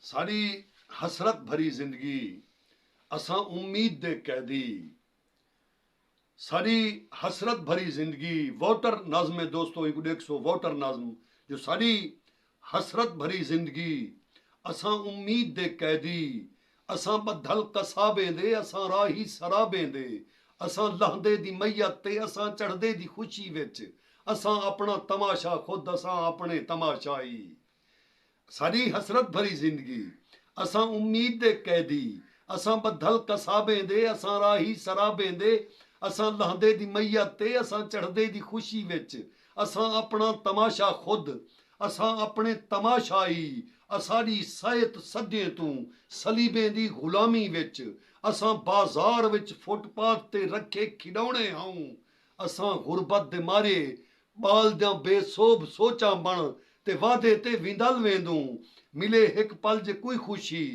ساݙی حسرت بھری زندگی اساں امید دے قیدی ساݙی حسرت بھری زندگی واٹر نظم ہے دوستو اینکوں ݙیکھسو واٹر نظم جو ساݙی حسرت بھری زندگی اساں امید دے قیدی اساں ٻدھل قصابیں دے اساں راہی سرابیں دے اساں لہندے دی میت تے اساں چڑھدے دی خوشی وچ اساں اپݨا تماشا خود اساں اپݨے تماشائی ساݙی حسرت بھری زندگی اساں امید دے قیدی اساں ٻدھل قصابیں دے اساں راہی سرابیں دے اساں لہندے دی میت تے اساں چڑھدے دی خوشی وچ اساں اپݨا تماشا خود اساں اپݨے تماشا ای اساݙی صحت صدیئں توں صلیبیں دی غلامی وچ اساں بازار وچ فٹ پاتھ تے رکھے کھݙوݨے ہاؤں اساں غربت دے مارے ٻالدیاں بے سوبھ سوچاں بݨ تے وعدے تے وندل ویندوں ملے ہک پل جے کوئی خوشی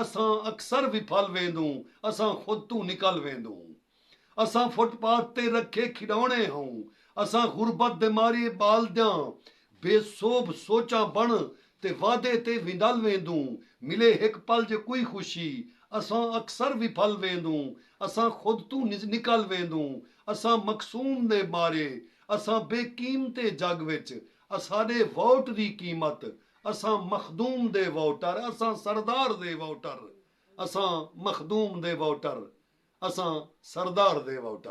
اساں اکثر وپھل ویندوں اساں خود توں نکل ویندوں۔ اساں فٹ پاتھ تے رکھے کھڈونے ہوں اساں غربت دے مارے بالدیاں بے سوبھ سوچاں بن تے وعدے تے ونڈل ویندوں ملے ہک پل جے کوئی خوشی اساں اکثر وپھل ویندوں اساں خود توں نکل ویندوں اساں مقصوم دے مارے اساں بے قیمتے جگ وچ اساڈے ووٹ دی قیمت اساں مخدوم دے ووٹر اساں سردار دے ووٹر اساں مخدوم دے ووٹر اساں سردار دے ووٹر۔